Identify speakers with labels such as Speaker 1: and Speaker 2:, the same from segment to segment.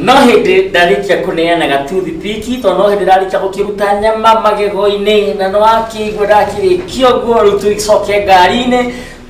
Speaker 1: no hĩndĩ ndarĩkia kũneana gatuthi piki tondũ no hĩndĩ ndarĩkia gũkĩruta nyama magego-inĩ na nĩ wakĩigua ndakĩrĩkia ũguo rĩu tũgĩcoke ngari-inĩ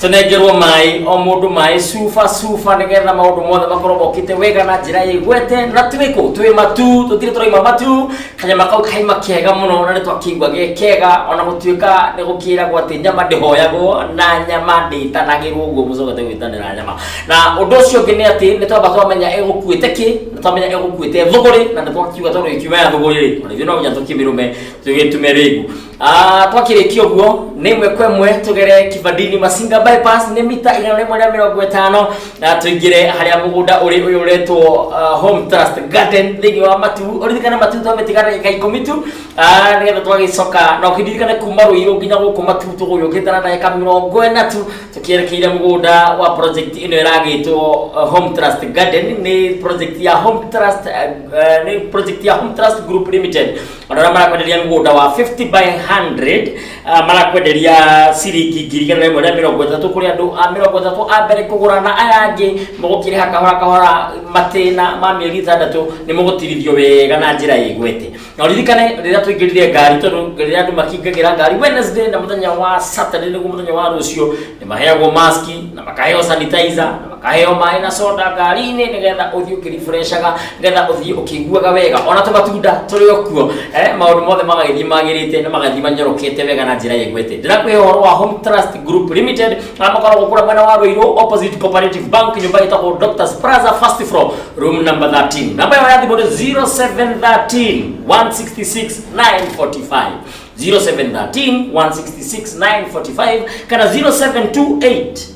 Speaker 1: tũnengerwo maĩ o mũndũ maĩ cuba cuba nĩgetha maũndũ mothe makorwo mokĩte wega na njĩra ĩgwete na twĩkũ twĩ matu tũtirĩ tũraima matu kanyama kau kaima kega mũno na nĩ twakĩigua ge kega ona gũtuĩka nĩ gũkĩragwo atĩ nyama ndĩhoyagwo na nyama ndĩtanagĩrwo ũguo mũcoka tegwĩtanĩra nyama na ũndũ ũcio ũngĩ nĩ atĩ nĩ twamba twamenya ĩgũkuĩte kĩ nĩ twamenya ĩgũkuĩte thũgũrĩ na nĩ twakiuga tondũ ĩkiuma ya thũgũrĩ rĩ ona ithuĩ no nginya tũkĩmĩrũme tũgĩtume rĩngu Ah, twakĩrĩkia ũguo nĩ ĩmwe kwa ĩmwe tũgere kibandini masinga bypass nĩ mita igana rĩmwe rĩa mĩrongo ĩtano na tũingĩre harĩa mũgũnda ũrĩ ũyũ ũretwo ah, home trust garden thĩinĩ wa matu ũririkane matu twamĩtiga ndagĩka ikũmi tu ah, nĩgetha twagĩcoka na ũkĩririkane kuma rũirũ nginya gũkũ matu tũgũgĩũkĩte na ndagĩka mĩrongo ĩna tu tũkĩerekeire mũgũnda wa project ĩno ĩragĩtwo ah, home trust garden nĩ project ya home trust ah, ah, nĩ project ya home trust group limited andå arä a marakwenderia må gå nda wa 50 by 100 ah, marakwenderia ciringi ngiri igana rĩmwe rĩa mĩrongo ĩtatũ kũrĩ andũ a mĩrongo ĩtatũ a mbere kũgũra na aya angĩ mũgũkĩrĩha kahora kahora matĩna ma mĩeri ĩtandatũ nĩ mũgũtirithio wega na njĩra ĩgwete na ũririkane rĩrĩa tũingĩrire ngari tondũ rĩrĩa andũ makingagĩra ngari wednesday na mũthenya wa saturday nĩguo mũthenya wa rũciũ nĩ maheagwo maski na makaheo sanitizer na akaheo maĩ na soda ngari-inĩ nĩgetha ũthiĩ ũkĩribreshaga nĩgetha ũthiĩ ũkĩiguaga wega ona tũmatunda tũrĩ o kuo eh, maũndũ mothe magagĩthiĩ magĩrĩte na magathiĩ manyorokete wega na njĩra ĩgwete ndĩrakũhe ũhoro wa home trust group limited na makoragwo kũrĩa mwena wa rũirũ opposite cooperative bank nyũmba ĩtagwo doctors plaza first floor room number 13 namba yao ya thimũ nĩ 0713 166 945 0713 166 945 kana 0728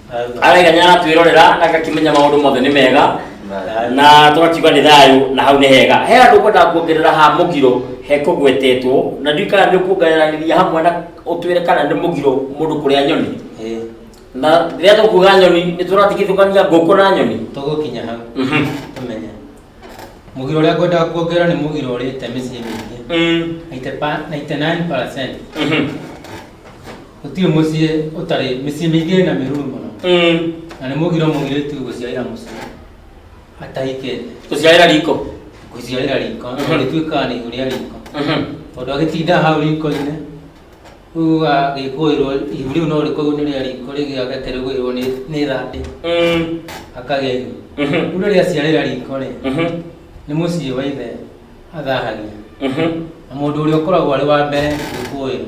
Speaker 1: araiga nĩaratwĩrorera na agakĩmenya maũndũ mothe nĩ mega na tũgakiuga nĩ thayũ na hau nĩ hega he andũ ũkwendaga kuongerera ha mũgiro he kũgwetetwo na ndiũ kana nĩ ũkuongereranĩria hamwe na ũtwĩre kana nĩ mũgiro mũndũ kũrĩa nyoni na rĩrĩa tũkuga nyoni nĩ tũratigithũkania ngũkũ na nyoni tũgũkinya hau Mhm. tũmenye mũgiro ũrĩa ngwendaga kuongerera nĩ mũgiro ũrĩte mĩciĩ mĩingĩ Mm, 99% mhm. Gũtirĩ mũciĩ ũtarĩ mĩciĩ mĩingĩ ĩna mĩruru mũno Mm. na nĩ mũgiro mũirĩtu gũciarĩra mũciĩ atahikĩte Gũciarĩra riko. gũciarĩra riko Mhm. no rĩtuĩkaga nĩ ihũria riko Mhm. tondũ agĩtinda hau riko-inĩ rĩu agĩkũĩrwo ihu rĩu no rĩkorwo nĩ rĩa riko rĩngĩ agakĩrĩgũĩrwo nĩ nĩ thande Mm. akagĩa ihu Mhm. rĩu rĩrĩa aciarĩra riko rĩ Mhm. nĩ mũciĩ wa ithe athahagia Mhm. na mũndũ ũrĩa ũkoragwo arĩ wa mbere gũkũĩrwo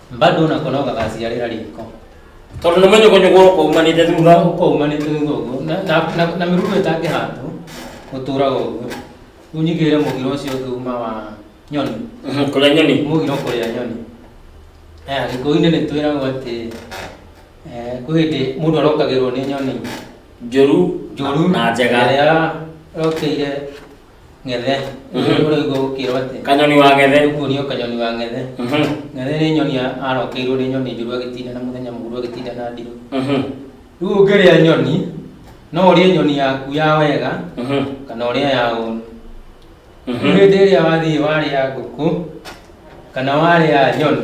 Speaker 1: bado nako no gagaciarĩra riko tondå nä manyågånyågå å kaumanä te thutha ũkaumanä te thutha ũguo Na- na- na- na mĩrugo ĩtangĩhandwo gũtũraga ũguo rĩu nyigĩrĩre mũgiro ũcio ũngĩ uma wa nyoni kå rä a nyoni mũgiro kũrĩa nyoni Eh, gĩkũyũ-inĩ nĩ twĩragwo atĩ eh, kwĩ hĩndĩ mũndũ arokagĩrwo nĩ nyoni njå ru njũru na njega ĩrĩa ĩrokĩire ng'ethe Mhm. ũrĩ ũguo gũkĩrwo atĩ kanyoni wa gethe ũguo nĩo kanyoni wa ng'ethe Mhm, ng'ethe nĩ nyoni ya- arokeirwo nĩ nyoni njũru agĩtinda na mũthenya mũguru agĩtinda na ndirũ mhm, rĩu ũngĩrĩa nyoni no ũrĩe nyoni yaku ya wega mhm, kana ũrĩa ya ũru mhm. hĩndĩ ĩrĩa wathiĩ warĩa ngũkũ kana warĩa nyoni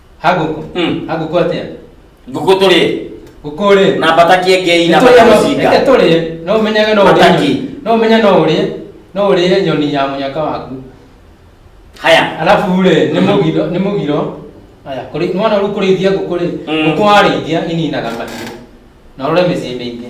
Speaker 1: haguku Mm. haguku atia ngũkũ tũrĩ guku ri na mbatakie ngei na reke matamucinga tũrĩe no ũmenyage no ũrĩe Mataki. nyoni. no ũmenye no ũrĩe no ũrĩe nyoni ya mũnyaka waku haya alafu rĩ nĩ Mhm. mũgiro nĩ mũgiro aya kũrĩ mwana rĩu kũrĩithia ngũkũ rĩ Mm. ngũkũ warĩithia ininaga mahiũ na ũrore mĩciĩ mĩingĩ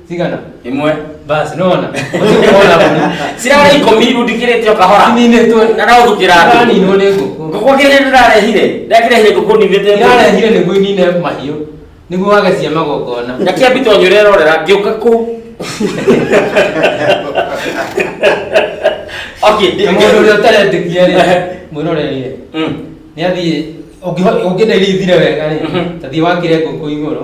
Speaker 1: Tigana. Imwe. Basi nona. Sirara ikomi irundikirite o kahora. Ninitwe. Na no thukira andu. Ndani no ni nguku. Ngũkũ kĩrĩa ndĩrarehire, ndakĩrehire ngũkũ ninĩte Irarehire nĩguo inine mahiũ. Nĩguo wage cia magongona. na kĩa mbito nyure rorera ngĩũka kũ okay ndi- Na mũndũ ũrĩa ũtarendĩkia rĩ, Ehe. mwĩroreire. Mm. Nĩ athiĩ ũngĩenda irithire wega rĩ, Mhm. ta thiĩ wakĩre ngũkũ igũrũ.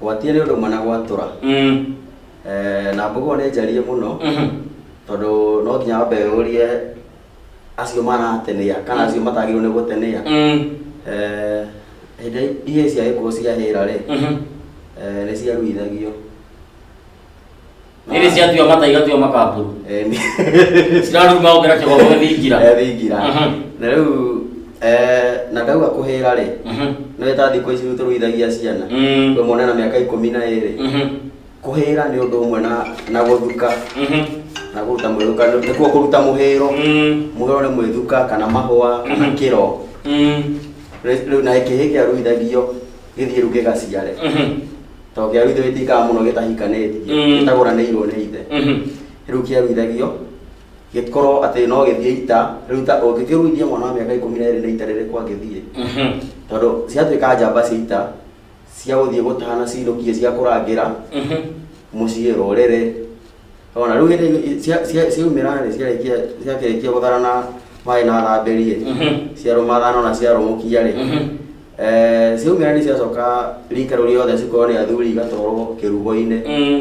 Speaker 1: Gwatia nĩ ũndũ ũmwe na gwatũra. Mm. Eh, na mbogo nĩ njarie mũno Mhm. tondũ no nginya wambe ũrie acio maratenia kana acio matagĩrĩirwo nĩ gũtenia Mm. Eh, hĩndĩ ihĩĩ cia gĩkũyũ ciahĩra rĩ Mhm. eh, nĩ ciaruithagio Nĩrĩ ciatua mata igatua makamburu. Eh, nĩ- Ciraruma ũkĩra kĩgombo thingira. Eh, thingira Mhm. na rĩu eh, na ndauga kũhĩra rĩ Mhm. nĩ wĩ ta thikũ ici rĩu tũruithagia ciana Mm. we mwana na mĩaka ikũmi na ĩrĩ Mhm. kũhĩra nĩ ũndũ ũmwe na na gũthuka Mhm. na kũruta mwĩthuka nĩkuo kũruta mũhĩro Mm. mũhĩro nĩ mwĩthuka kana mahũa kana Mhm. kĩro Mm. rĩu na kĩhĩ kĩa ruithagio gĩthiĩ rĩu gĩgaciare Mhm. tondũ kĩaru ithe gĩtikaga mũno gĩtahikanĩtie Mm. gĩtagũranĩirwo nĩ ithe Mhm. rĩu kĩaruithagio gĩkorwo atĩ no gĩthiĩ ita rĩu ta ũngĩkĩruithia mwana wa mĩaka ikũmi na ĩrĩ na ita rĩrĩkũ angĩthiĩ Mhm. tondũ ciatuĩka njamba cia ita cia gũthiĩ gũtahana cinũkie cia kũrangĩra Mhm. mũciĩ rũrĩrĩ O na rĩu hĩndĩ ĩ- cia- cia- ciaumĩra rĩ ciarĩkia ciakĩrĩkia gũtharana maĩ na thambĩri rĩ Mhm. ciarũmathana ona ciarũmũkia rĩ Mhm. Eh, ciaumĩra nĩ ciacoka rika rĩu rĩothe cikorwo nĩ athuri igatwarwo kĩrugo-inĩ Mm.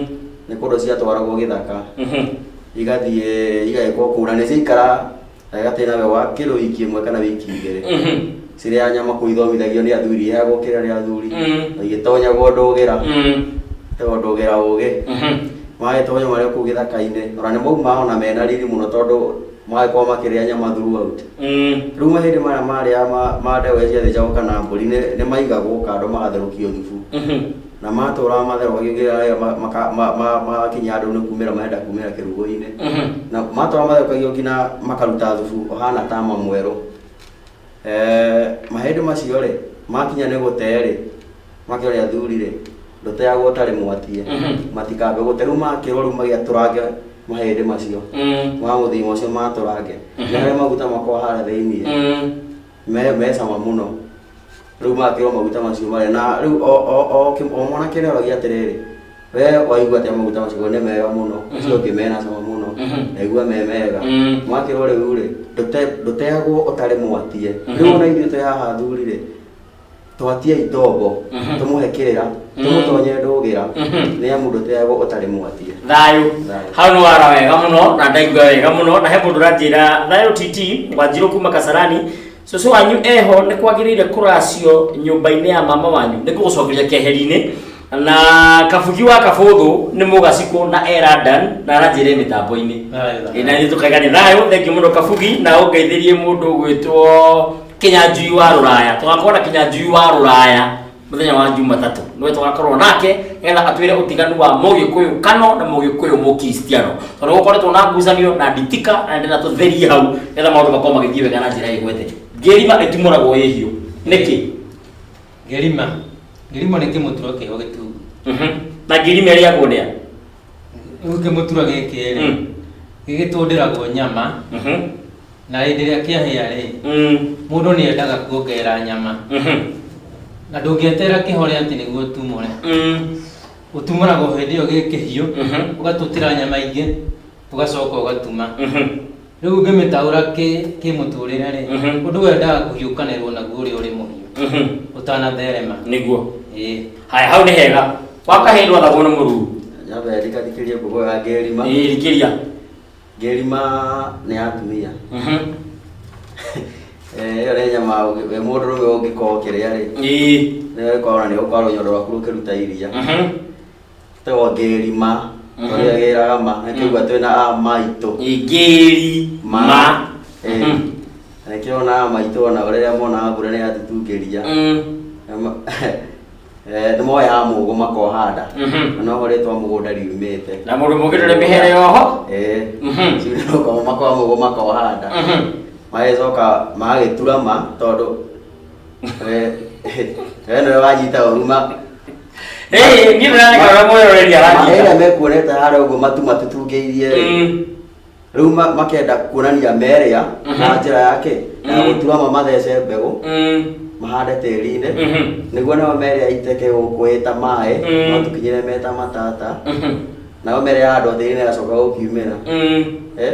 Speaker 1: nĩ kũndũ ciatwaragwo gĩthaka Mhm. igathiĩ igagĩkwo kũu na nĩ ciaikara na ĩgatĩra we wa kĩndũ wiki ĩmwe kana wiki igĩrĩ Mhm. cirĩ ya nyama kũu ithomithagio nĩ athuri ya gũkĩra nĩ athuri Mm. na igĩtonyagwo ndũgĩra Mm. ĩyo ndũgĩra ũgĩ Mhm. magĩtonya marĩ kũu gĩthaka-inĩ ona nĩ maumaga ona mena riri mũno tondũ magĩkorwo makĩrĩa nyama throughout Mm. rĩu mahĩndĩ marĩa marĩa ma- ma ndegwa iria ciathĩnjagwo kana mbũri nĩ nĩ maigagwo kando magatherũkio thubu Mhm. na matũũraga matherũkagia nginya rĩrĩa ma- maka- ma- ma- magakinya andũ nĩ kumĩra marenda kumĩra kĩrugo-inĩ na matũũraga matherũkagio nginya makaruta thubu ũhana tama mwerũ Eh, mahĩndĩ macio rĩ makinya nĩ gũtee rĩ makĩore athuri rĩ ndũteagwo ũtarĩ mwatie matikambe gũte rĩu makĩrwo rĩu magĩatũrange mahĩndĩ macio ma mũthenya ũcio matũrange nĩ harĩa maguta makwa harĩa thĩinĩ me me cama mũno rĩu magakĩrwo maguta macio marĩa na rĩu o o o kĩ- o mwanake nĩ oragia atĩrĩrĩ we waigua atĩa maguta macio Ngauga, nĩ mega mũno ũcio ũngĩ mena cama mũno Mhm. ndaigua me mega Mm. mwakĩrwo rĩu rĩ ndũte- ndũtegwo ũtarĩ mwatie Mhm. rĩu ona ithuĩ twĩ haha athuri rĩ Twatiai ndogo Mhm. tũmũhe kĩrĩra Mhm. tũmũtonye ndũgĩra Mhm. nĩ amu ndũteagwo ũtarĩ mwatia thayå Thayũ. hau nä wara wega må no na ndaigua wega må no na he må ndå ranjä ra thayå titi wanjirå kuma kasarani cåcå wanyu eho nä kwagä rä ire kå racio nyå mba-inä ya mama wanyu nä kå gå cokeria keheri-inä na kabugi wa kabũthũ nĩ mũgacikũ na eradan na aranjĩre mĩtambo-inĩ Ĩ, na nĩ tũkaiga nĩ thayũ thengi mũno kabugi na ũngeithĩrie mũndũ ũgwĩtwo kĩnyanjui wa rũraya tũgakorwo na kĩnyanjui wa rũraya mũthenya wa jumatatũ nĩwe tũgakorwo nake nĩgetha atwĩre ũtiganu wa mũgĩkũyũ kano na mũgĩkũyũ mũkristiano tondũ gũkoretwo na ngucanio na nditika na ndĩna tũtherie hau nĩgetha maũndũ makorwo magĩthiĩ wega na njĩra ĩgwete ngĩrima ĩtimũragwo ĩhiũ nĩkĩ Ngĩrima. Ngĩrimo nĩ kĩmũturo kĩho gĩtungu. Mhm. Na ngĩrima ĩrĩagwo nĩa? Rĩu kĩmũturo gĩkĩ rĩ, Mm. gĩgĩtũndĩragwo nyama, Mhm. na hĩndĩ ĩrĩa kĩahĩa rĩ, Mm. mũndũ nĩ endaga kuongerera nyama. Mhm. Na ndũngĩeterera kĩhore atĩ nĩguo ũtumũre. Mm. Ũtumũraga o hĩndĩ ĩyo gĩ kĩhiũ, Mhm. ũgatũtĩra nyama ingĩ, ũgacoka ũgatuma Mhm. rĩu ũngĩmĩtaũra kĩ- kĩmũtũrĩre rĩ Mhm. ũndũ wendaga kũhiũkanĩrwo naguo ũrĩa ũrĩ mũhiũ Mhm. ũtanatherema nĩguo ĩĩ haya hau nĩ hega wakahĩĩ ndwathagwo nĩ mũruu nyambe ndikathikĩrie ngũgũ ya ngerima rikĩria ngerima nĩ ya atumia Mhm. Eh, ĩyo nĩ nyama ũngĩ- we mũndũ rũme ũngĩkorwo ũkĩrĩa rĩ Ĩĩ. nĩwekona nĩ ũkorwo nyondo rwaku rũkĩruta iria Mhm. Tegwa ngeri ma. Mhm. Ũrĩa geraga ma. Na kĩgua twĩna a maitũ. Ngeri ma. ma. Eh. Mhm. Na kĩo na a maitũ ona rĩrĩa monaga mbura nĩ yatutungĩria. Mm. Na ma- Eh, nĩ moyaga mũgũ makohanda. Mhm. Na noho rĩtwa mũgũnda riumĩte. Na mũndũ mũngĩ ndũrĩ mĩhere yoho. Eh. Mhm. Rĩu nĩ gũkorwo makoya mũgũ makohanda. Mhm. Magĩcoka magagĩtura ma tondũ we nĩwe wanyita ũru ma Hey, niĩ ndĩraneka ũrĩa mwĩroreria maĩra wanyita. mekuonete harĩa ũguo matu matutungĩirie rĩ Mm. rĩu ma- makenda kuonania merĩa Mhm. na njĩra yake ya Mhm. gũturama mathece mbegũ Mm. mahande tĩri-inĩ Mhm. nĩguo nao merĩa iteke gũkũ ĩta maĩ Mhm. no tũkinyĩre meta matata Mhm. nao merĩa handwo tĩri-inĩ ĩgacoka gũkiumĩra Mm. Eh?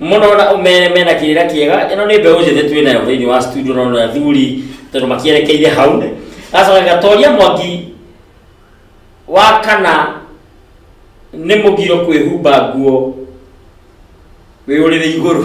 Speaker 1: Mũnona me- mena kĩrĩra kĩega ĩno nĩ mbeũ njĩthĩ twĩ nayo thĩinĩ wa studio no na thuri tondũ makĩerekeire hau gacoka gatoria mwangi wa kana nĩ mũgiro kwĩhumba nguo wĩ ũrĩrĩ igũrũ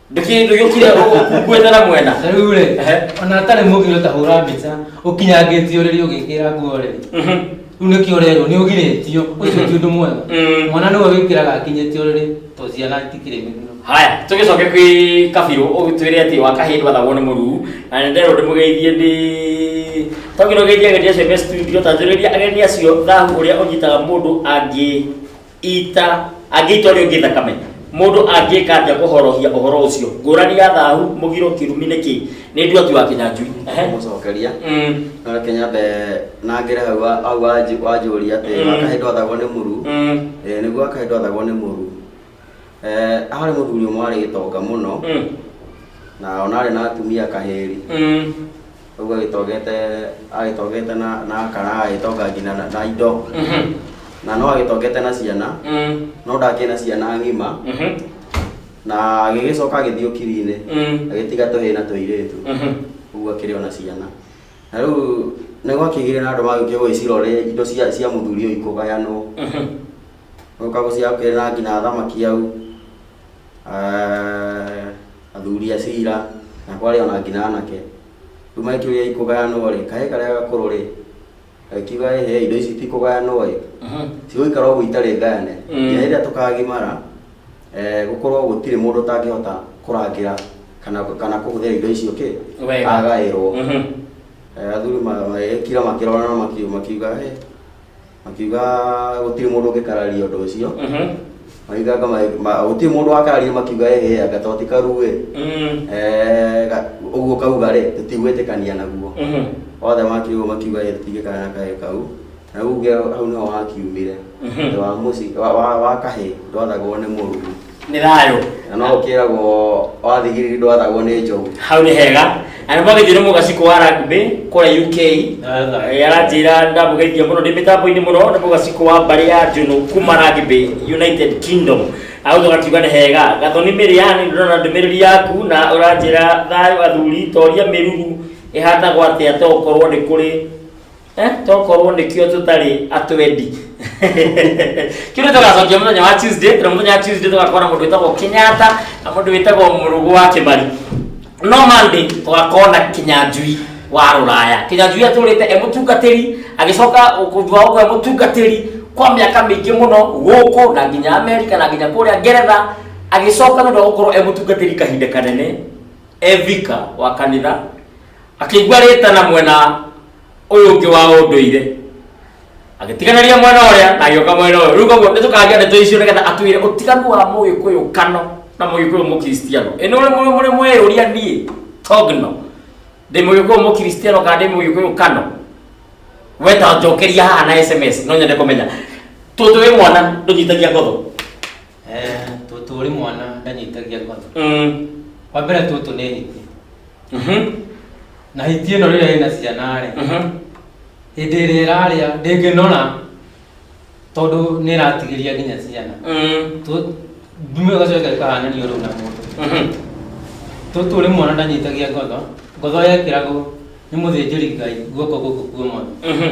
Speaker 1: nä kä ndå gä kire nguä na mwena Na rĩu rĩ Ehe. ona atarĩ mũgiro ta hũra mbica ũkinyangĩtio rĩrĩ ũgĩkĩra nguo rĩrĩ Mhm. rĩu nĩkĩo ũrerwo nĩ ũgirĩtio ũcio ti ũndũ mwega Mm. mwana nĩwe wĩkĩraga akinyĩtio rĩrĩ to ciana itikĩrĩ mĩgiro haya tå gä coke kwä kabirå å gä twä re atä wa kahä ndwathagwo nä må ruu na nä nderwo ndä må geithie ndä to ngä rå geithie ageni acio me studio tanjå rä ria ageni acio thahu å rä a å nyitaga må ndå angä ita angĩita ũrĩa ũngĩ thakame mũndũ angĩka atĩa kũhorohia ũhoro ũcio ngũrani ya thahu mũgiro kĩrumi nĩ kĩ nĩ nduatu wa kĩnyanjui Ehe. mũcokeria Mm, na reke nyambe nangĩre hau wa- hau wanjũ- wanjũria atĩ Mm. akahĩ ndwathagwo nĩ mũru mm, Eh, nĩguo akahĩ ndwathagwo nĩ mũru Eh, harĩ mũthuri ũmwe warĩ gĩtonga mũno mm, na ona arĩ na atumia kahĩri mm, Ũguo agĩtogete agĩtogete na na kana agĩtonga nginya na, na indo Mhm. na no agĩtogete na ciana Mm. no ndakĩ na ciana ng'ima Mhm. na agĩgĩcoka agĩthiĩ ũkiri-inĩ Mm. agĩtiga tũhĩ na tũirĩtu Mhm. ũguo akĩrĩ ona ciana na rĩu nĩ gwakĩgire na andũ magĩũkire gũgĩcira ũrĩa indo cia cia mũthuri ũyũ ikũgayanwo Mhm. gũka gũcira kũrĩ na nginya thamaki au eh, athuri a cira na kwarĩ ona nginya anake rĩu magĩkĩũria ikũgayanwo rĩ kahĩ karĩa gakũrũ rĩ gakiuga ĩ he indo ici ti kũgayanwo ĩ cigũikara ũguo itarĩ ngayane Mm. nginya rĩrĩa tũkagimara eh, gũkorwo gũtirĩ mũndũ ũtangĩhota kũrangĩra kana kana kũhũthĩra indo icio kĩ Wega. agaĩrwo Mhm. Eh, athuri magĩkira makĩrorana makiu- makiuga "Eh, akiuga gũtirĩ mũndũ ũngĩkararia ũndũ ũcio Mhm. maiganga gũtirĩ mũndũ wakararia makiuga ehe anga to ti karu ĩ Mm. Eh, ga- ũguo kauga rĩ tũtigwĩtĩkania naguo Mhm. othe makiuga makiuga ĩ tũtingĩkara na kaĩ kau na uge hau nĩho wakiumire Mhm. Thutha wa mũci wa- wa wa kahĩ ndwathagwo nĩ mũruru nĩ thayũ na no ũkĩragwo wathigiriri ndwathagwo nĩ njogu hau nĩ hega na nĩ magĩthiĩ nĩ mũgaciko wa rugby kũrĩa uk Eh, aranjĩra ndamũgeithia mũno ndĩ mĩtambo-inĩ mũno nĩ mũgaciko wa mbarĩ ya njũnũ kuma rugby united kingdom agũtho gakiuga nĩ hega gathoni mĩrĩani ndĩrona ndũmĩrĩri yaku na ũranjĩra thayũ athuri toria mĩruru ĩhatagwo atĩa to gũkorwo nĩ kũrĩ Eh, tokorwo nĩkĩo tũtarĩ atwendi kĩu nĩ tũgacokia mũthenya wa tuesday na mũthenya wa tuesday tũgakorwo na mũndũ wĩtagwo kenyatta na mũndũ wĩtagwo mũrũgũ wa kĩmari no monday tũgakorwo na kinyanjui wa rũraya kinyanjui atũrĩte e mũtungatĩri agĩcoka thutha ũguo e mũtungatĩri kwa mĩaka mĩingĩ mũno gũkũ na nginya amerika na nginya kũrĩa ngeretha agĩcoka nĩ ũndũ wa gũkorwo e mũtungatĩri kahinda kanene evika wa kanitha akĩigua rĩtana mwena ũyũ ũngĩ wa ũndũire agĩtiganĩria mwena ũrĩa na agĩũka mwena ũyũ rĩu koguo nĩtũkagia ndeto icio nĩgetha atwĩre ũtiganu wa mũgĩkũyũ kano na mũgĩkũyũ mũkristiano ĩ nĩ mũrĩ mwĩyũria niĩ togno ndĩ mũgĩkũyũ mũkristiano kana ndĩ mũgĩkũyũ kano weta njokeria haha na sms no nyende kũmenya tũtũ wĩ mwana ndũnyitagia ngotho Eh, tũtũ ũrĩ mwana ndanyitagia ngono Mm. wa mbere tũtũ nĩ hiti Mhm. na hiti ĩno rĩrĩa ĩna ciana rĩ Mhm. hĩndĩ ĩrĩa ĩrarĩa ndĩngĩnora tondũ nĩ ĩratigĩria nginya ciana Mm. Tũ- ndume gacoka ĩkahananio rĩu na mũndũ Mhm. tũtũ ũrĩ mwana ndanyitagia ngono ngono yekĩragwo nĩ mũthĩnjĩri ngai guoko gũkũ kuomono Mhm.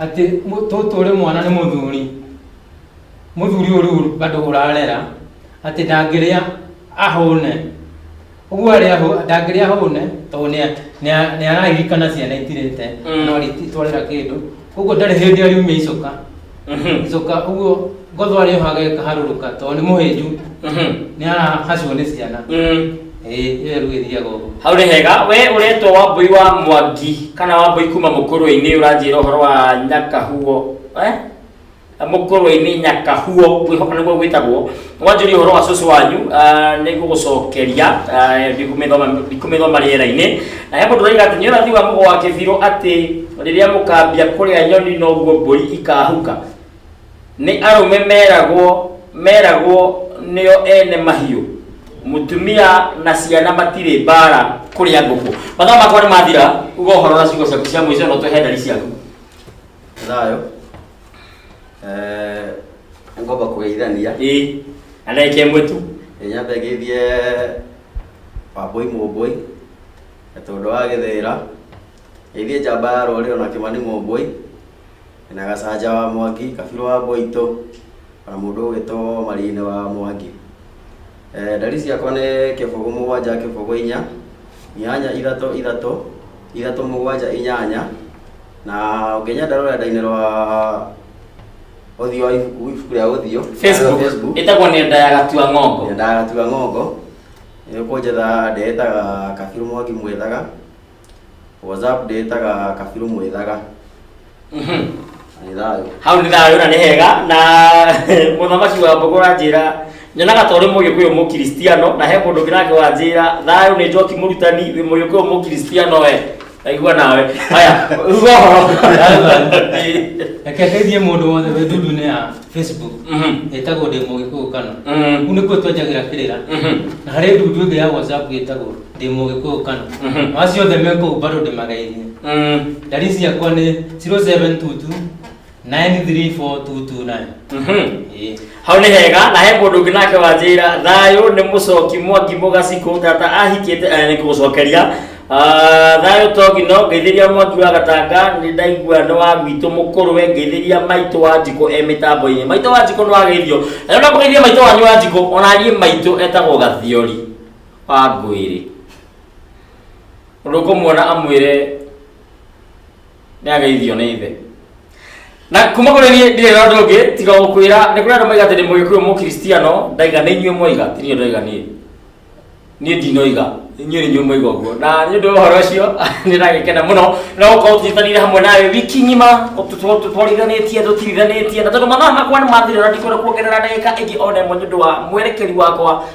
Speaker 1: atĩ tũtũ ũrĩ mwana nĩ mũthuri mũthuri ũyũ rĩu bado ũrarera atĩ ndangĩrĩa ahũne ũguo arĩa ahũ- ndangĩrĩa ahũne tondũ nĩa- nĩa- nĩararirikana ciana itirĩte Mm. no rĩtwarĩra kĩndũ koguo ndarĩ hĩndĩ ariumia icoka Mhm. icoka ũguo Ngothwa rä haga ĩkaharũrũka tondũ nĩ mũhĩnju Mhm. nĩ arahacwo nĩ ciana Mm. ĩĩ ĩyo rĩu ĩthiaga ũguo hau nĩ hega we ũretwo wambui wa mwangi kana wambui kuma mũkũrũ-inĩ ũranjĩra ũhoro wa nyakahuo eh? mũkũrũ-inĩ nyakahuo ngwĩhoka nĩguo gwĩtagwo wanjũria ũhoro wa cũcũ wanyu ah, nĩ gũgũcokeria ah, ndikũmĩthoma- ndikũmĩthoma rĩera-inĩ na he mũndũ ũraiga atĩ nĩ ũrathi wa mũgo wa kĩbirũ atĩ rĩrĩa mũkambia kũrĩa nyoni noguo mbũri ikahuka Nĩ arũme meragwo meragwo nĩo ene mahiũ, mũtumia na ciana matirĩ mbaara kũrĩa ngũkũ. Mathaa makwa nĩ mathira, uga ũhoro na ciugo ciaku cia mũico na ũtũhe ndari ciaku. Thayo. Eh, ngomba kũgeithania. Ĩĩ, na ndagĩka ĩmwe tu. Ĩĩ nyambe ngeithie Wambũi Mũmbũi, na tondũ wa gĩthĩra. Ngeithie njamba ya rũrĩrĩ ona Kĩmani Mũmbũi. na Gacanja wa Mwangi, Kabirũ wa Mboitũ, na mũndũ ũgwĩtwo Marine wa Mwangi. Eh, Ndari ciakwa nĩ kĩbũgũ mũgwanja kĩbũgũ inya, inyanya ithatũ ithatũ, ithatũ mũgwanja inyanya, na ũngĩnyenda rũrenda-inĩ rwa ũthiũ wa ibuku, ibuku rĩa ũthiũ, Facebook Facebook ĩtagwo nĩ nda ya gatua ng'ongo nyendaga gatua ng'ongo, nĩ ũkũnjetha ndĩĩtaga Kabirũ Mwangi Mwĩthaga, WhatsApp ndĩtaga kabiru mwĩthaga nĩ thayũ hau nĩ thayũ na nĩ hega na mũthamaki wa mbogo wanjĩra nyonaga ta ũrĩ mũgĩkũyũ mũkristiano na he mũndũ ũngĩ nake wanjĩra thayũ nĩ njoki mũrutani wĩ mũgĩkũyũ mũkristiano we aigua nawe haya uga ũhoro reke ndeithie mũndũ wothe wĩ ndundu-inĩ ya facebook Mhm. ĩtagwo ndĩ mũgĩkũyũ kana Mhm. kuu nĩkuo twenjagĩra kĩrĩra Mhm. na harĩ ndundu ĩngĩ ya whatsapp ĩtagwo ndĩ mũgĩkũyũ kana Mhm. acio othe me kũu bado ndĩmageithie Mm. ndari ciakwa nĩ 0722 934 Mhm. Ĩĩ. hau nĩ hega na he mũndũ ũngĩ nake wanjĩra thayũ nĩ mũcoki mwangi mũgacikũ tata ahikĩte eh, nĩ kũgũcokeria Ah, thayũ togi no ngeithĩria mwangi wa gatanga nĩ ndaigua nĩ wa gwitũ mũkũrũ we ngeithĩria maitũ wa njikũ e mĩtambo-inĩ maitũ wa njikũ nĩ wageithio na nĩ ũramũgeithia maitũ wanyu wa njikũ ona niĩ maitũ etagwo gathiori wa ngwĩrĩ ũndũ ũkũmuona amwĩre nĩ ageithio nĩ ithe na kuma kũrĩ niĩ ndirĩ na ũndũ ũngĩ tiga gũkwĩra nĩ kũrĩ andũ maiga atĩ nĩ mũgĩkũyũ mũkristiano ndaiga nĩ inyuĩ mwaiga ti niĩ ndaiga niĩ niĩ ndinoiga inyuĩ nĩ inyuĩ mwaiga ũguo na nĩ ũndũ wa ũhoro ũcio nĩ ndagĩkena mũno na gũkorwo tũnyitanĩire hamwe nawe wiki ng'ima twarithanĩtie tũtirithanĩtie na tondũ mathaa makwa nĩ mathira na ndikwenda kuongerera ndagĩka ĩngĩ ona ĩmwe nĩ ũndũ wa mwerekeri wakwa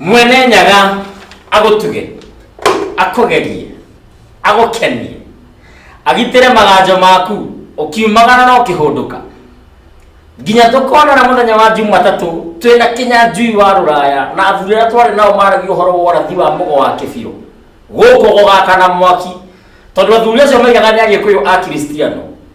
Speaker 1: mwene nyaga agũtuge akũgerie agũkenie agitĩre maganjo maku ũkiumagara no kĩhũndũka nginya tũkonana mũthenya wa jumatatũ twĩ na kinya njui wa rũraya na athuri arĩa twarĩ nao maragia ũhoro wa ũrathi wa mũgo wa kĩbirũ gũkũ gũgakana mwaki tondũ athuri acio maigaga nĩ agĩkũyũ a kiristiano